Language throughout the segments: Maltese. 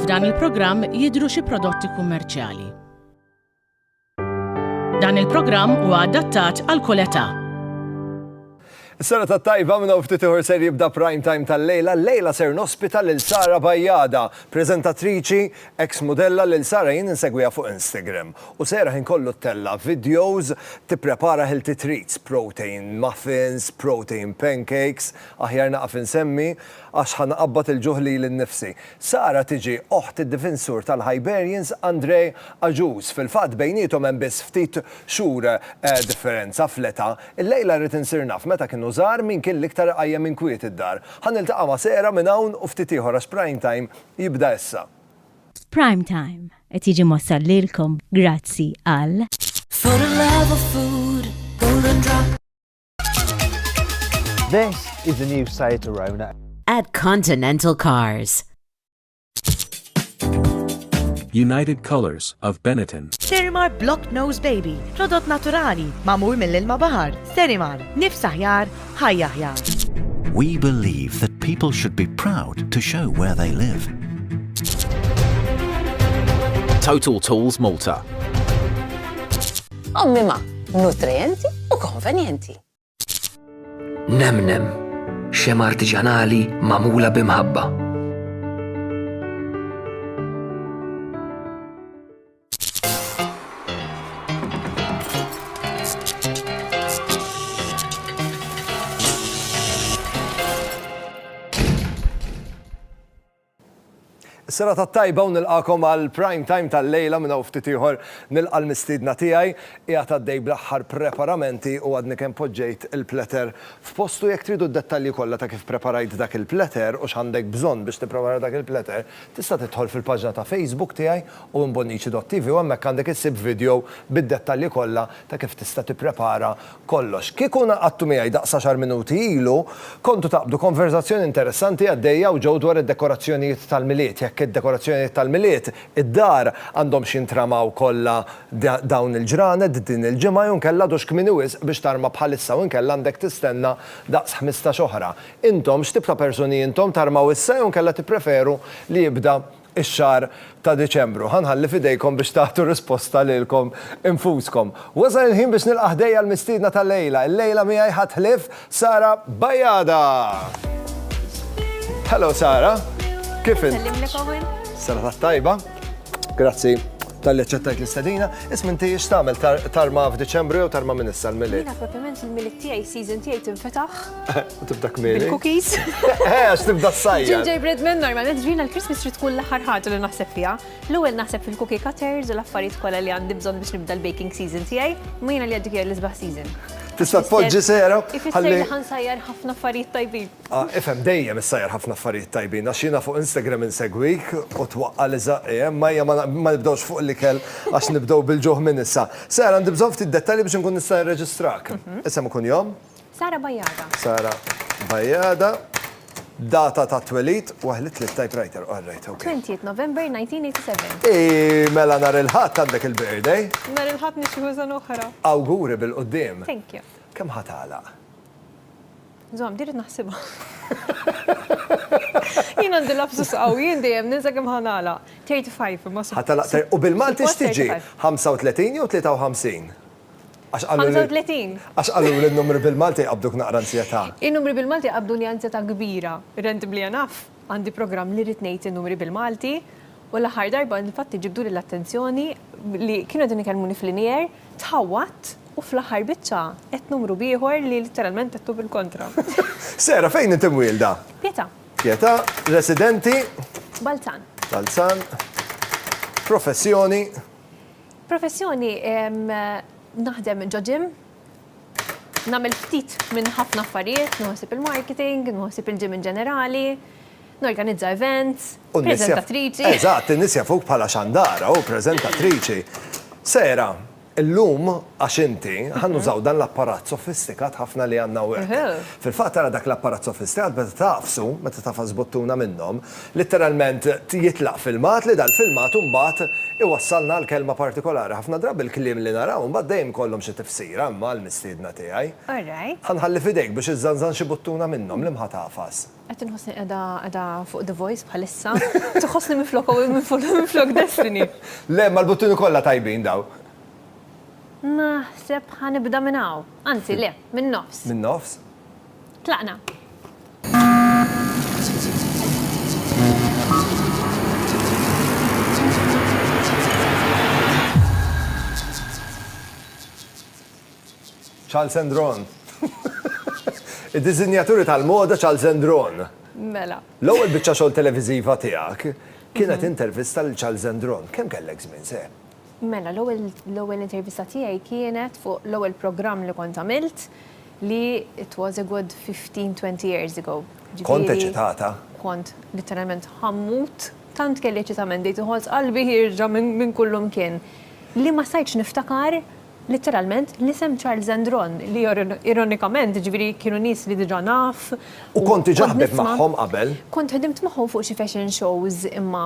F'dan il-programm jidhru xi prodotti kummerċjali. Dan il-programm huwa adattat għal kull età. Sena ta' tajba minn hawn ftit ieħor ser jibda prime time tal-lejla. Lejla ser nospita lil Sara Bajjada, preżentatriċi Eks mudella lil Sara jien insegwiha fuq Instagram u sejra ħin kollu ttella' videos tipprepara healthy treats, protein muffins, protein pancakes, aħjar naqaf insemmi għax ħa nqabbad il-ġuħ lili nnifsi. Sara tiġi oħt id-difinsur tal-Hiberians Andre Agius, fil-fatt bejniethom hemm biss ftit xhur differenza fl-età. Illejla rrid insir naf meta kienu żgħar min kien l-iktar iqajjem inkwiet id-dar. Ħa niltaqa' ma' Sara minn hawn u ftit ieħor għax prime time jibda issa. Prime Time qed jiġi mwassal lilkom grazzi għal. This is the new Seat Arona. At Continental Cars. United Colors of Benetton. Sterimar Block Nose Baby, prodott naturali, mamur mill-ilma bahar. Sterimar, nifs aħjar, Ħajja aħjar. We believe that people should be proud to show where they live. Total Tools Malta. Ommima, nutrienti u konvenjenti. Nemnem, xem artiġanali mamula bimħabba. Sena ta' tajba u nilqakom għal prime time tal-lejla minn hawn ftit ieħor nilqa' l-mistiedna tiegħi qiegħed għaddej bl-aħħar preparamenti u għadni kemm poġġejt il-platter f'postu jekk tridu d-dettalji kollha ta' kif preparajt dak il-platter u x'għandek bżonn biex tipprepara dak il-platter tista' tidħol fil-paġna ta' Facebook tiegħi u imbonniċi dottivi u hemmhekk għandek issib vidjow bid-dettalji kollha ta' kif tista' tipprepara kollox. Kieku ngħaqadtu miegħi daqs għaxar minuti ilu, kontu taqbdu konverżazzjoni interessanti għaddejja hawn ġew dwar id-dekorazzjonijiet tal-Milied, jekk id-dekorazzjonijiet tal-Milied, id-dar, għandhomx jintramaw kollha dawn il-ġranet din il-ġimgħa jew inkella għadux kmieni wisq biex tarma bħalissa u inkella għandek tistenna daqs ħmistax oħra. Intom, x'tip ta' persuni intom, tarmaw issa jew inkella tippreferu li jibda ix-xahar ta' Diċembru. Ħa nħalli f'idejkom biex tagħtu risposta lilkom infuskom. Wasal il-ħin biex nilqa' ħdejja l-mistiedna tal-lejla. Il-lejla miegħi ħadd ħlief Sara Bajada. Hello Sara, kif int? Sara tat-tajba. Grazzi. Talli aċċettajt l-istedina, isma' inti x'tagħmel tarma f'Diċembru jew tarma minn issa l-milied? Jiena proprjament il-milied tiegħi season tiegħi tinfetaħ. Tibda kmieni. Bil-cookies. Eh, għax tibda s-sajja. Ginger bread minn normalment ġrina l-Christmas trid tkun l-aħħar ħaġa li naħseb fiha. L-ewwel naħseb fil-cookie cutters u l-affarijiet kollha li għandi bżonn biex nibda l-baking season tiegħi, ma jiena li għaddik l-isbaħ season. Tista' tpoġġi sera? Ifisser li ħansajjar ħafna affarijiet tajbin. Ah, ifhem, dejjem issajjar ħafna affarijiet tajbin, għax jiena fuq Instagram insegwik u twaqqa' li żaqqi, emm, ejja ma nibdewx fuq l-ikel għax nibdew bil-ġuħ minn issa. Sara, għandi bżonn ftit dettalji biex inkun nista' nirreġistrak. Isem u kunjom? Sara Bajada. Sara Bajada. Data tat-twelid, waħ li tlidt typewriter, all right, ok. 20th November 1987. Ii, mela nhar il-Ħadd għandek il-birthday. Nhar il-Ħadd nixtiequ sena oħra. Awguri bil-quddiem. Thank you. Kemm ħa tagħlaq? Zom, dirit naħsibha. Jien għandi lapsus qaw, jien dejjem ninsa kemm ħanala. 35 imma sa. U bil-Malti x'tiġi? 35 jew 53? 35. Għax qalu li n-numri bil-Malti jqabduk naqra ansjetà. In-numri bil-Malti jqabduni ansjetà kbira. Rent bli naf, għandi programm li rrid ngħid in-numri bil-Malti, U l-aħħar darba infatti ġibduli l-attenzjoni li kienu qegħdin ikellmuni f'linear, tħawwadt u fl-aħħar biċċa għedt numru b'ieħor li litteralment għedtu bil-kontra. Sarah, fejn int imwielda? Pietà. Pietà, residenti? Balzan. Balzan. Professjoni? Professjoni, naħdem ġo gym, nagħmel ftit minn ħafna affarijiet, nieħu ħsieb il-marketing, nieħu ħsieb il-gym in ġenerali, Norganizza events, preżentatriċi. Eżatt, in-nies jafuk bħala xandara u preżentatriċi. Sara, illum għax inti, ħa nużaw dan l-apparat sofistikat ħafna li għandna hawnhekk. Fil-fatt ara dak l-apparat sofistikat meta tagħfsu, meta tagħfas buttuna minnhom, litteralment jitlaq filmat li dal-filmat imbagħad iwassalna għal kelma partikolari. Ħafna drabi l-kliem li naraw imbagħad dejjem ikollhom xi tifsira imma għall-mistiedna tiegħi. Ħa nħalli f'idejk biex iżżanżan xi buttuna minnhom, liema ħa tagħfas? Qed inħossni qiegħda qiegħda fuq The Voice bħalissa. Tħossni minflok u minflok Destiny. Le, mal-buttuni kollha tajbin daw. Naħseb ħanibda minn hawn. Anzi, le, minn nofs. Minn nofs? Tlaqna. Charles and Ron. Id-diżinjaturi tal-moda Charles and Ron. Mela. L-ewwel biċċa xogħol televiżiva tiegħek kienet intervista lil Charles and Ron. Kemm kellek żmien seħ? Mela, l-ewwel intervista tiegħi kienet fuq l-ewwel programm li kont għamilt li it was a good 15-20 years ago. Kont eċitata? Kont literalment ħammut tant kelli ċitament dejt iħoss qalbi ħirġa minn kullum kien. Li ma sajċ niftakar Litteralment, l-isem Charles and Ron, li ironikament, jiġifieri kienu nies li diġà naf u kont nisma'. U kont diġà ħdimt magħhom qabel. Kont ħdimt magħhom fuq xi fashion shows imma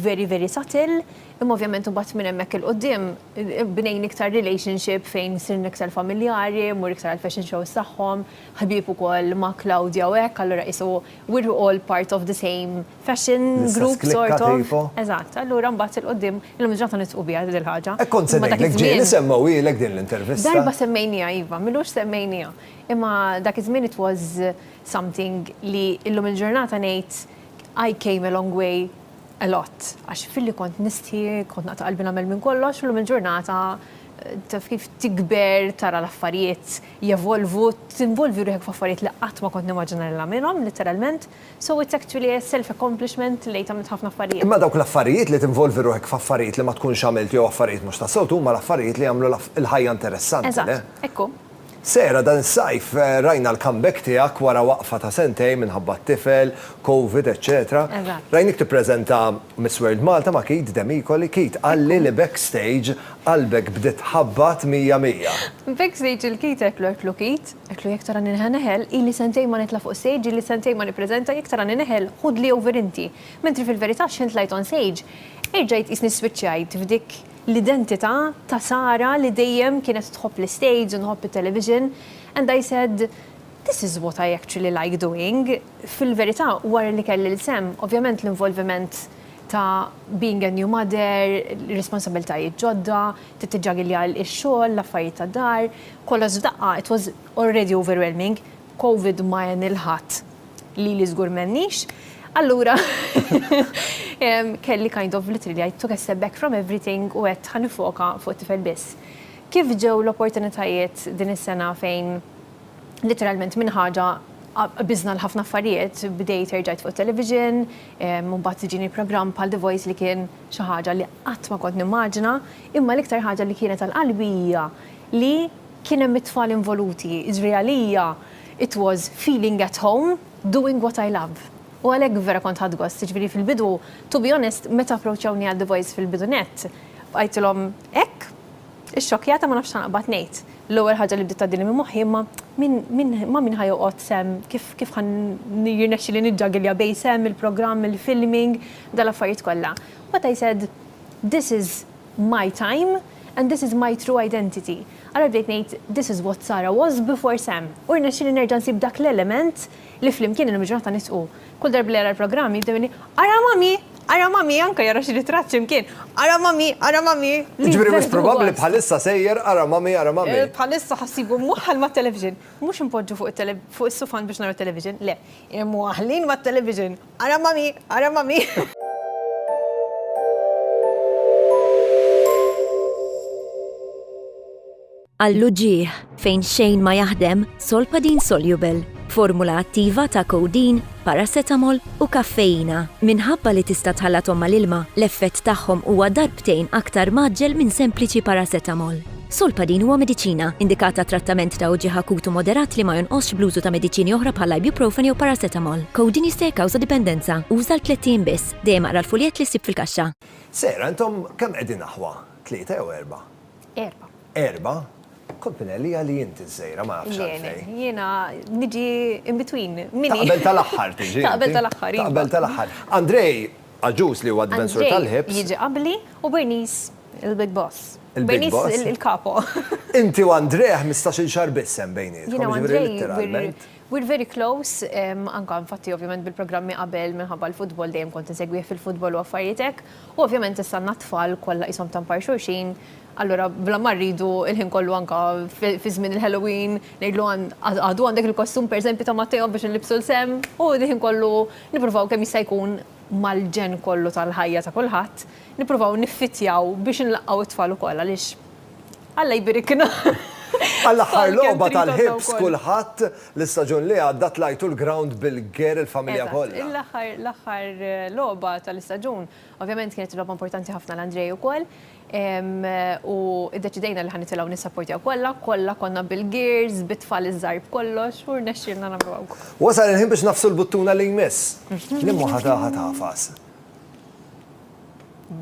very, very subtle, imma ovvjament imbagħad minn hemmhekk 'il quddiem bnejn iktar relationship fejn sirna iktar familjari, mmur iktar għall-fashion shows tagħhom, ħbieb ukoll ma' Claudia u hekk, allura qisu we're all part of the same. Fashion group sort of. Eżatt, allura mbagħad il-qudiem illum il-ġurnata nitqu biha din il-ħaġa. Hekk kont se ngħidlek ġieli semmewhielek din l-intervista. Darba semmejniha iva, m'ilux semmejniha. Imma dak iż-żmien it was something li illum il-ġurnata ngħid I came a long way a lot għax filli kont nistħi, kont naqta' qalbi nagħmel minn kollox, illum il-ġurnata taf kif tikber tara l-affarijiet jevolvu, tinvolvi ruħek f'affarijiet li qatt ma kont nimmaġina li nagħmilhom, litteralment. So it's actually a self accomplishment lejt għamilt ħafna affarijiet. Imma dawk l-affarijiet li tinvolvi ruħek f'affarijiet li ma tkunx għamilt jew affarijiet mhux tas-soltu huma l-affarijiet li jagħmlu l-ħajja interessanti, le? Eżatt, hekk hu. Sarah, dan is-sajf rajna l-comeback tiegħek wara waqfa ta' sentejn minħabba t-tifel, covid, eċċetera. Eżatt. Rajnik tippreżenta Miss World Malta ma' Keith Demicoli. Keith qalli li backstage qalbek bdiet tħabbat mija mija. Backstage il-Keith għedt l-ortlu Keith. Għedtlu jekk tarani neħel neħel, ili sentejn ma nitla' fuq stage, ili sentejn ma nippreżenta, jekk tarani neħel, ħudli over inti. Mentri fil-verità x'ħin tlajt on stage, erġajt qisni swiċċajt f'dik l-identità ta' Sara li dejjem kienet tħobb l-istage u nħobb it-television and I said, this is what I actually like doing. Fil-verità wara li kelli l-sehem, ovvjament l-involviment ta' being a new mother, responsabiltajiet ġodda, Tittiġġagilja x-xogħol, l-affarijiet tad-dar, kollox f'daqqa, it was already overwhelming, covid ma għen lil ħadd, lili żgur m'għenniex, allura kelli kind of literally I took a step back from everything u għedt ħa nifoka fuq it-tifel biss. Kif ġew l-opportunitajiet din is-sena fejn literalment minn ħaġa qbiżna l-ħafna affarijiet, bdejt erġajt fuq it-television, imbagħad iġini programm bħal The Voice li kien, Xi ħaġa li qatt ma kont nimmaġina, imma l-iktar ħaġa li kienet għal qalbi hija li kien hemm it-tfal involuti, jiġri għalija it was feeling at home doing what I love. U għalhekk vera kont ħadt gost, jiġifieri fil-bidu, to be honest, meta approachawni għal The Voice fil-bidu nett, bqajtilhom hekk, ixxokkjata ma nafx x'ħanqbad ngħid. L-ewwel ħaġa li bdiet tgħaddili minn moħħi imma min ma' min ħa joqgħod sehem, kif ħa jirnexxili niġġagilja bejn sehem, il-programm, il-filming, dal-affarijiet kollha, what I said, this is my time and this is my true identity. Allura bdejt ngħid this is what Sarah was before Sam. U rnexxieli nerġa' nsib dak l-element li flimkien illum il-ġurnata nistqu. Kull darba li jara l-programm jibda jgħidli, ara mommy, ara mommy, anke jara xi ritratt xi mkien, ara mommy, ara mommy. Jiġifieri mhux probabbli bħalissa sejjer ara mommy, ara mommy. Bħalissa ħa ssibu mwaħħal mat-television. Mhux inpoġġu fuq is-sufan biex naraw television, le, imwaħħlin mat-television. Ara ma' min, ara ma' min. Għall-uġigħ, fejn xejn ma jaħdem, Solpadeine Soluble, b'formula attiva ta' codeine, paracetamol u kaffeina. Minħabba li tista' tħallathom mal-ilma, l-effett tagħhom huwa darbtejn aktar mgħaġġel minn sempliċi paracetamol. Solpadeine huwa mediċina, indikat għat-trattament ta' uġigħ akut u moderat li ma jonqosx bl-użu ta' mediċini oħra bħall-ibuprofen jew paracetamol. Codeine jista' jikkawża dipendenza. Uża għal tlett ijiem biss. Dejjem aqra l-fuljett li ssib fil-kaxxa. Sarah, intom kemm qegħdin aħwa? Tlieta jew erbgħa? Erbgħa. Erbgħa? Kont minn għelija li inti ż-żgħira, ma nafx għalfejn. Le, le, jiena niġi in between. Taqbel tal-aħħar tiġi inti. Taqbel tal-aħħar, iva. Taqbel tal-aħħar. Andrej! Agius li huwa d-difensur tal-Hibs. Andrei jiġi qabbli u Bernice il-big boss. Bernice il-capo. Inti u Andrei ħmistax-il xahar biss hemm bejnietkom. Jiena u Andrei we're very close anke infatti ovvjament bil-programmi qabel minħabba l-futbol dejjem kont insegwih fil-futbol u affarijiet hekk. U ovvjament issa għandna t-tfal kollha qishom tampar xulxin allura bla ma rridu l-ħin kollu anke fi żmien il-Halloween ngħidlu għadu għandek il-kostum pereżempju ta' Matteo biex inlibbsu l-sehem u l-ħin kollu Nippruvaw kemm jista' jkun mal-ġenn kollu tal-ħajja ta' kulħadd, nippruvaw niffittjaw biex inlaqqgħu t-tfal ukoll għaliex Alla jbirikna. Għall-aħħar logħba tal-ħibs kulħadd l-istaġun li għadda tlajtu l-ground bil-ger il-familja kollha. Eżatt, l-aħħar logħba tal-istaġun ovvjament kienet logħba importanti ħafna għal Andrej ukoll. U iddeċidejna li ħa nitilgħu nissapportjaw kollha, kollha konna bil-gears, bit-tfal iż-żgħar b'kollox u rnexxielna nagħmlu hawn. Wasal il-ħin biex nagħfsu l-buttuna li jmiss. Liema waħda ħa tagħfas?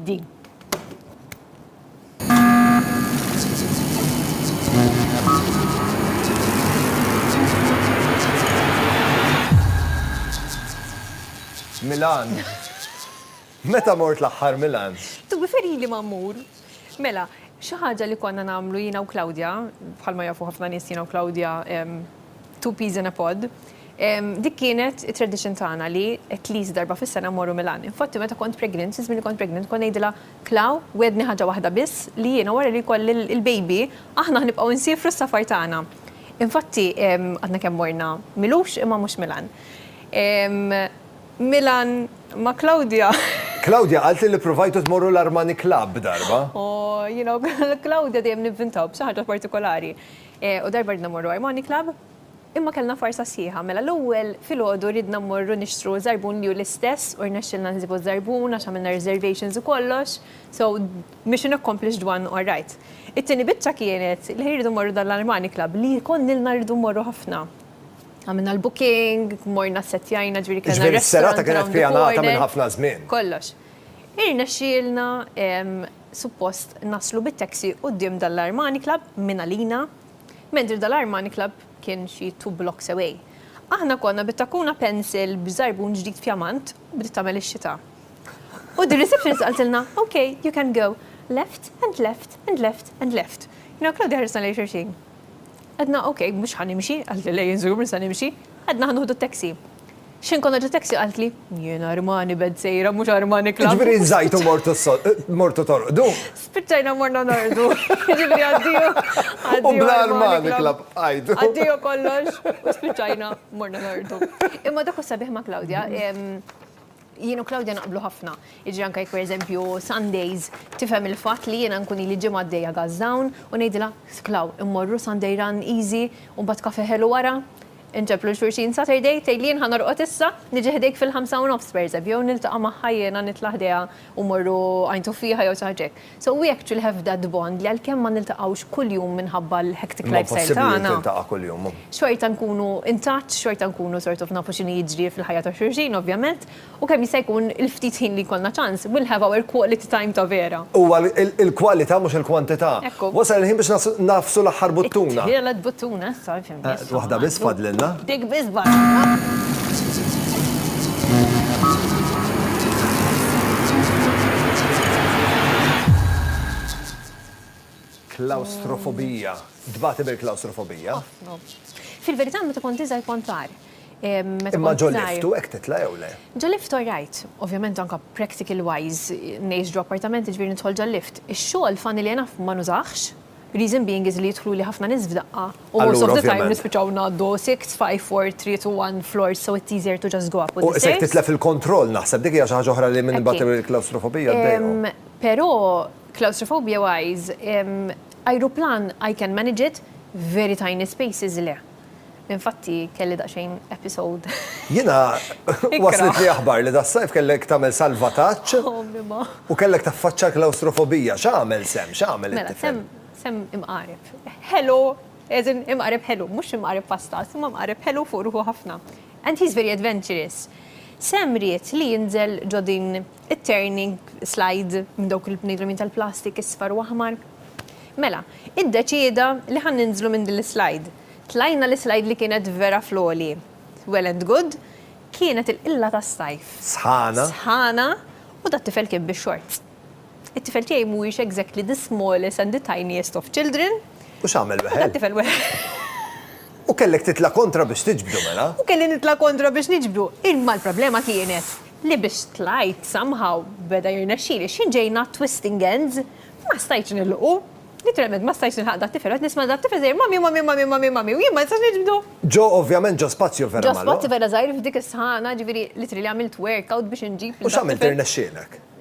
Din. Milan. Meta mort l-aħħar Milans? Tubi ferħin li ma mmur. Mela, xi ħaġa li konna nagħmlu jiena u Claudia, bħalma jafu ħafna nies jiena u Claudia two peas in a pod, dik kienet it-tradition tagħna li at least darba fis-sena mmorru Milan. Infatti meta kont pregnant, fi żmien li kont pregnant, kont ngħidilha, Clau, wegħdni ħaġa waħda biss li jiena wara li jkolli l-baby, aħna ħnibqgħu nsiefru s-safar tagħna. Infatti għadna kemm morna Milux imma mhux Milan. Milan ma' Claudia. Claudia qaltli li ppruvajtu tmorru l-Armani Club darba. Oh, you know, Claudia dejjem nivvintaw b'xi ħaġa partikolari. U darba ridna mmorru Armani Club, imma kellna farsa sħiħa. Mela l-ewwel filgħodu ridna mmorru nixtru żarbun li hu l-istess u rnexxielna nsibu ż-żarbun għax għamilna reservations u kollox, so mission accomplished one, all right. It-tieni biċċa kienet li rridu mmorru dan l-Armani Club li konnilna rridu mmorru ħafna. Għamilna l-booking, morna setjajna ġviri kena. Ġviri s-serata kienet pjanata minn ħafna żmien. Kollox. Irna xielna suppost naslu bit-taxi u d-dim dal-Armani Club minn għalina, mentri dal-Armani Club kien xi two blocks away. Aħna konna bit-takkuna pencil b'żarbun ġdid pjamant u bdiet tagħmel ix-xita. U d-receptionist qaltilna, ok, you can go. Left and left and left and left. Jiena u Claudia ħarisna lejn xulxin. Għedna, ok, mhux ħa nimxi, qaltli le jien żgur mhux se nimxi, għedna ħa nieħdu taxi. X'ħin konna ġo taxi qaltli, jien Armani bed sejra mhux Armani Club. Ġifieri żajt u mortu torqdu? Spiċċajna morna norqdu. Ġifieri addio. U bla Armani Club qgħidu. Addio kollox u spiċċajna morna norqdu. Imma dak hu s-sabiħ ma' Claudia, Jien u Claudia naqblu ħafna. Jiġri anke jekk pereżempju Sundays tifhem il-fatt li jiena nkun ili ġimgħa għaddejja gas down u ngħidilha, Clau, immorru Sunday run easy u mbagħad kafè ħelu wara? Inġeblu 'l xulxin Saturday, tgħidli jien ħa norqod issa, niġi ħdejk fil-ħamsa u nofs pereżempju jew niltaqa' magħha jiena nitla' ħdejha u mmorru għajn tuffieħa jew xi ħaġa hekk. Sewwieq ġie l-have that bond li għalkemm ma niltaqgħux kuljum minħabba l-hectic lifestyle tagħna. Imma possibbli li tiltaqa' kuljum. Xorta nkunu in touch, xorta nkunu sort of nafu x'inhi jiġri fil-ħajja ta' xulxin ovvjament, u kemm jista' jkun il-ftit ħin li jkollna ċans, we'll have our quality time ta' vera. Huwa l-kwalità mhux il-kwantità. Ekku. Wasal il-ħin biex nagħfsu l-aħħar buttuna. It-tielet buttuna issa. Waħda biss fadlilna. Dik biss Klawstrofobija. Tbati bil-klawstrofobija? Ħafna. Fil-verità meta kont iżgħir kont agħar. Imma ġo lift u hekk titla' jew le? Ġo lift all right. Ovvjament anke practical wise ngħix ġo appartament jiġifieri nidħol ġol-lift. Ix-xogħol funny li enough ma nużahx. Reason being is li jidħluli ħafna nies f'daqqa u most of the time nispiċċaw ngħaddu six, five, four, three to one floors so it's easier to just go up. U isek titlef il-kontroll naħseb dik hija xi ħaġa oħra li minn imbagħad il-klawstrofobija ddejjaq. Però claustrophobia wise, ajruplan I can manage it, very tiny spaces le. Infatti kelli daqsxejn episode. Jiena waslitni aħbar li das-sajf kellek tagħmel salvataġġ u kellek taffaċċa l-klawstrofobija. X'għamel Sam? X'għamel it-tifel? Mela, Sam imqareb. Ħelu, as in imqareb ħelu, mhux imqareb pastat, imma mqareb ħelu fuq ruħu ħafna. And he's very adventurous. Sam ried li jinżel ġo din it-turning slide minn dawk il-bnidremin tal-plastik isfar u aħmar. Mela, iddeċieda li ħa ninżlu minn din l-islide. Tlajna l-islide li kienet vera fl-għoli. Well and good, kienet il-qilla tas-sajf. Sħana. Sħana, u dat-tifel kien bix-shorts. It-tifel tiegħi mhuwiex exactly the smallest and the tiniest of children. U x'għamel wieħed? U dat-tifel wieħed. U kellek titla' kontra biex tiġbdu, mela? U kelli nitla' kontra biex niġbdu, imma l-problema kienet. li biex tlajt somehow beda jirnexxili xi ġejna twisting ends ma stajtx nilħqu. Literalment ma stajtx nilħaq dat-tifel, qed nisma' dat-tifel sejjer mommy mommy mommy mommy mommy u jien ma nistax niġbdu. Ġo ovvjament ġo spazju vera magħluq. Ġo spazju vera żgħir f'dik is-sħana, ġifieri literally għamilt workout biex inġib lil dat-tifel. U x'għamilt irnexxielek?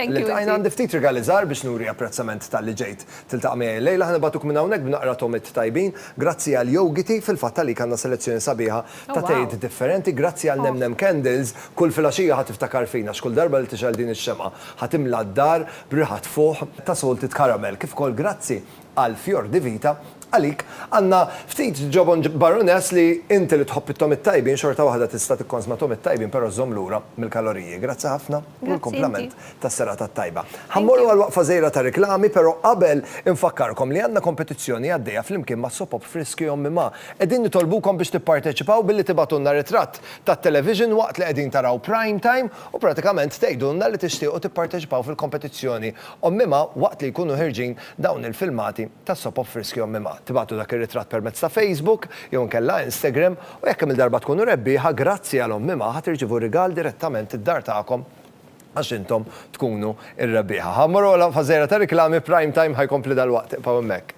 Iltqajna għandi ftit rigali żgħar biex nuri apprezzament talli ġejt tiltaqa' miegħi illejla. Ħa nibgħatuk minn hawnhekk b'naqra togħmiet tajbin. Grazzi għal Yogiti, fil-fatt għalik għandna selezzjoni sabiħa ta' tejiet differenti. Grazzi għal Nem Nem Candles, kull filgħaxija ħa tiftakar fina għax kull darba li tixgħel din ix-xemgħa ħa timla d-dar b'riħa tfuħ ta' salted caramel. Kif ukoll grazzi qal Fior di Vita, għalik għandna ftit ġobon Baroness li inti li tħobb it-togħmiet tajbin xorta waħda tista' tikkonsma togħmiet tajbin però żżomm lura mill-kaloriji. Grazzi ħafna u l-kumplament tas-serata t-tajba. Ħa mmorru għal waqfa żgħira ta' riklami però qabel infakkarkom li għandna kompetizzjoni għaddejja flimkien ma' Sopop Friski Ommi Ma. Qegħdin nitolbukom biex tipparteċipaw billi tibgħatulna ritratt tat-television waqt li qegħdin taraw Prime Time u pratikament tgħidulna li tixtiequ tipparteċipaw fil-kompetizzjoni Ommi Ma waqt li jkunu ħierġin dawn il-filmati tas-soap of Friski on Mimha. Tibgħatlu dak ir-ritratt permezz ta' Facebook jew inkella Instagram u jekk kemm-il darba tkunu rebbieħa, grazzi għal Omm Mimha ħa tirċievu rigal direttament id-dar tagħkom għax intom tkunu r-rebbieħa. Ħa mmorru għal waqfa żgħira ta' riklami, Prime Time ħa jkompli dalwaqt, ibqgħu hemmhekk.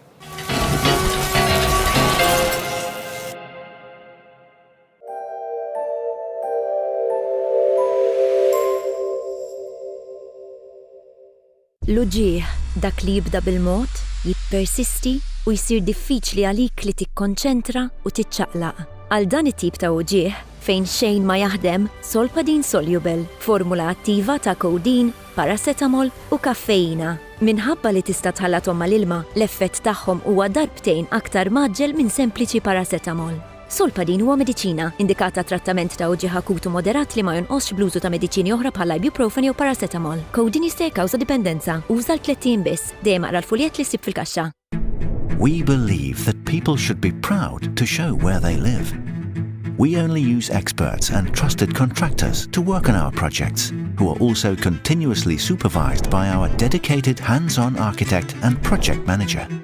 L-uġigħ, dak li jibda bil-mod, jippersisti u jsir diffiċli għalik li tikkonċentra u tiċċaqlaq. Għal dan it-tip ta' uġigħ fejn xejn ma jaħdem, Solpadeine Soluble, formula attiva ta' codeine, paracetamol u kaffeina. Minħabba li tista' tħallathom mal-ilma, l-effett tagħhom huwa darbtejn aktar mgħaġġel minn sempliċi paracetamol. Solpadin huwa mediċina, indikat għat-trattament ta' uġigħ akut u moderat li ma jonqosx bl-użu ta' mediċini oħra bħall-ibuprofen jew paracetamol. Codeine jista' jikkawża dipendenza. Uża għal tliet ijiem biss. Dejjem aqra l-fuljett li ssib fil-kaxxa. We believe that people should be proud to show where they live. We only use experts and trusted contractors to work on our projects, who are also continuously supervised by our dedicated hands-on architect and project manager.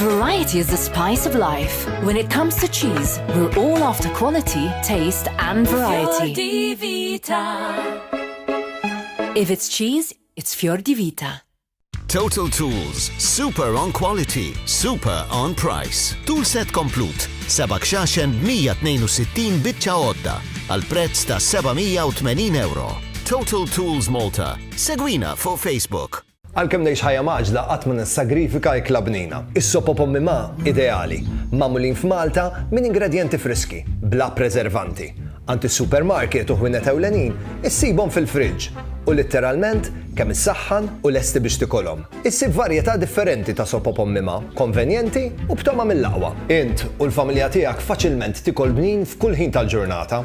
Variety is the spice of life. When it comes to cheese, we're all after quality, taste and variety. If it's cheese, it's Fior di Vita. Total Tools, super on quality, super on price. Tool set komplut, seba' xaxen 162 bitċa għodda, għal prezz ta' 780 euro. Total Tools Malta, segwina fuq Facebook. Għalkemm ngħix ħajja mgħaġġla qatt ma nissagrifika ikla bnina. Is-sop o pommi ma, ideali. Magħmulin f'Malta minn ingredjenti friski, bla preservanti. Għand is-supermarket u ħwienet ewlenin issibhom fil-friġġ u litteralment kemm issaħħan u lesti biex tikolhom. Issib varjetà differenti ta' sop o pommi ma, konvenjenti u b'togħma mill-aqwa. Int u l-familja tiegħek faċilment tikol bnin f'kull ħin tal-ġurnata.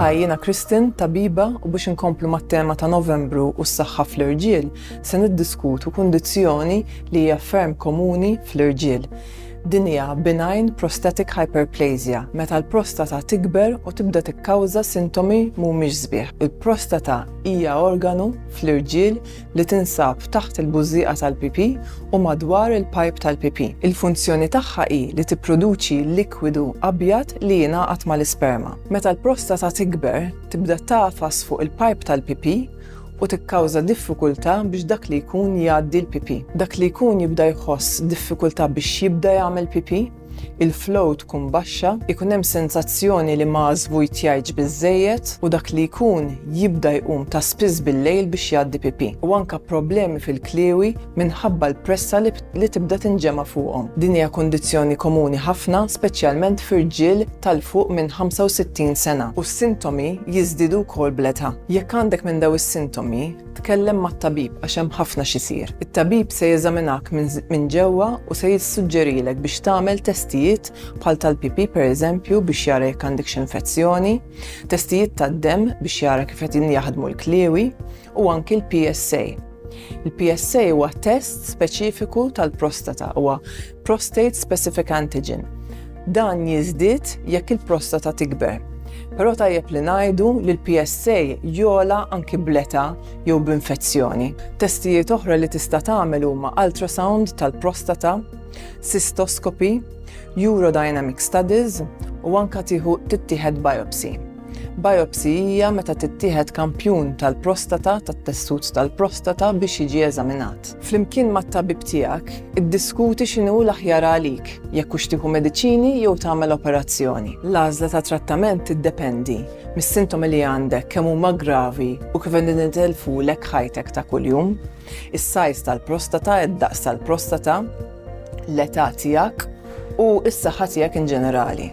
Hi, jiena Kristin, tabiba, u biex inkomplu mat-tema ta' Novembru u s-saħħa fl-irġiel, se niddiskutu kundizzjoni li hija ferm komuni fl-irġiel. Din hija benign prostatic hyperplasia, meta l-prostata tikber u tibda tikkawża sintomi mhumiex sbieħ. Il-prostata hija organu fl-irġiel li tinsab taħt il-bużżieqa tal-pipì u madwar il-pajp tal-pipì. Il-funzjoni tagħha hi li tipproduċi likwidu abjad li jingħaqad mal-isperma. Meta l-prostata tikber, tibda tagħfas fuq il-pajp tal-pipì u tikkawża diffikultà biex dak li jkun jgħaddi l-pipì. Dak li jkun jibda jħoss diffikultà biex jibda jagħmel pipì. il-flow tkun baxxa, ikun hemm sensazzjoni li ma żvujtjajtx biżżejjed u dak li jkun jibda jqum ta' spiss bil-lejl biex jgħaddi pipì. U anke problemi fil-kliewi minħabba l-pressa li tibda tinġema' fuqhom. Din hija kundizzjoni komuni ħafna, speċjalment fi rġiel ta' 'l fuq minn 65 sena u s-sintomi jiżdiedu wkoll bl-età. Jekk għandek minn dawn is-sintomi, Tkellem mat-tabib għax hemm ħafna x'isir. It-tabib se jeżaminak minn ġewwa u se jissuġġerilek biex tagħmel testijiet bħal tal-pipì pereżempju biex jara jekk għandekx infezzjoni, testijiet tad-demm biex jara kif qed jaħdmu l-kliewi u anki l-PSA. Il-PSA huwa test speċifiku tal-prostata, huwa Prostate Specific Antigen. Dan jiżdied jekk il-prostata tikber. Però tajjeb li ngħidu li l-PSA jogħla anki bl-età jew b'infezzjoni. Testijiet oħra li tista' tagħmel huma ultrasound tal-prostata, cystoscopy, urodynamic studies u anke tieħu tittieħed biopsy. Biopsy hija meta tittieħed kampjun tal-prostata, tat-tessut tal-prostata biex jiġi eżaminat. Flimkien mat-tabib tiegħek, iddiskuti x'inhu l-aħjar għalik, jekk hux tieħu mediċini jew tagħmel operazzjoni. L-għażla ta' trattament tiddependi mis-sintomi li għandek, kemm huma gravi u kif qegħdin itellfulek ħajtek ta' kuljum, is-sajż tal-prostata, id-daqs tal-prostata, l-età tiegħek u s-saħħa tiegħek in ġenerali.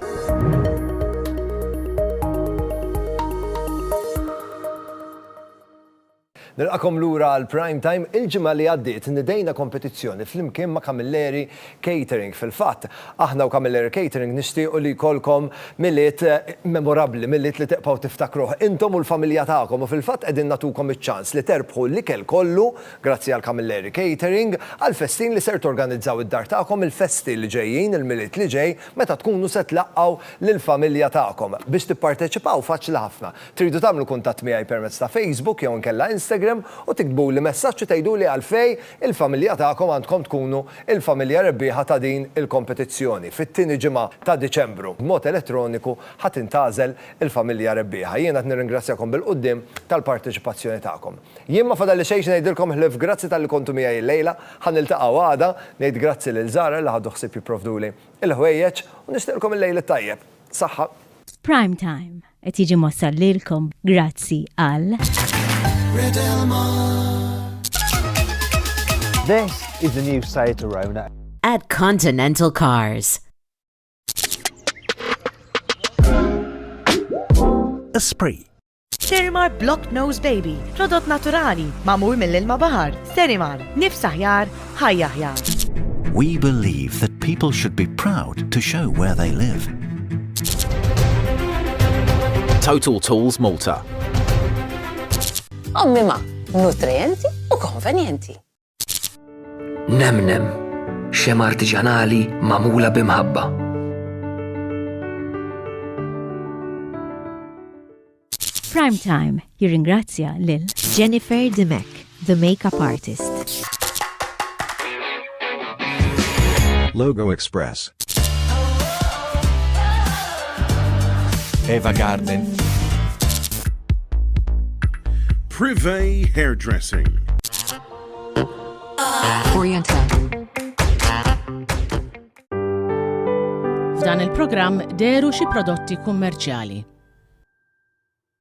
Nilqakom lura għal prime time il-ġimgħa li għaddiet nidejna kompetizzjoni flimkien ma' Camilleri Catering. Fil-fatt, aħna u Camilleri Catering nixtiequ li jkollkom miliet eh, memorabbli, miliet li teqpaw tiftakruh intom u l-familja tagħkom u fil-fatt qegħdin natukom iċ-ċans li terbħu l-ikel kollu Grazzi għal Camilleri Catering għall-festin li ser torganizzaw id-dar tagħkom il-festi li ġejjin, il-Milied li ġej, meta tkunu se tlaqqgħu lill-familja tagħkom. Biex tipparteċipaw faċli ħafna. Tridu tagħmlu kuntatt miegħi permezz ta' Facebook jew inkella Instagram u tiktbuli messaġġ u tgħiduli għalfejn il-familja tagħkom għandkom tkunu l-familja rebbieħa ta' din il-kompetizzjoni. Fit-tieni ġimgħa ta' Diċembru, b'mod elettroniku ħa tintgħażel il-familja rebbieħa. Jiena qed nirringrazzjakom bil-quddiem tal-parteċipazzjoni tagħkom. Jien ma fadalli xejn xi ngħidilkom ħlief grazzi talli kontu miegħi llejla, ħa niltaqgħu għada, ngħid grazzi lil Zahra li ħadu ħsieb jipprovduli l-ħwejjeġ u nixtieqlkom il-lejl it-tajjeb. Saħħa. Prime Time qed jiġi mwassal lilkom grazzi għal. This is the new Seat Arona. At Continental Cars. Esprit. Serimar Block Nose Baby, prodott naturali, mamur mill-ilma bahar. Serimar, nifs aħjar, ħajja aħjar. We believe that people should be proud to show where they live. Total Tools Malta. Ommima, nutrienti u konvenienti. Nemnem, xema artiġanali magħmula b'imħabba. Prime Time jirringrazzja lil Jennifer Dimek, the makeup artist. Logo Express. Eva Garden. Privé Hairdressing. F'dan il-programm deru xi prodotti kummerċjali.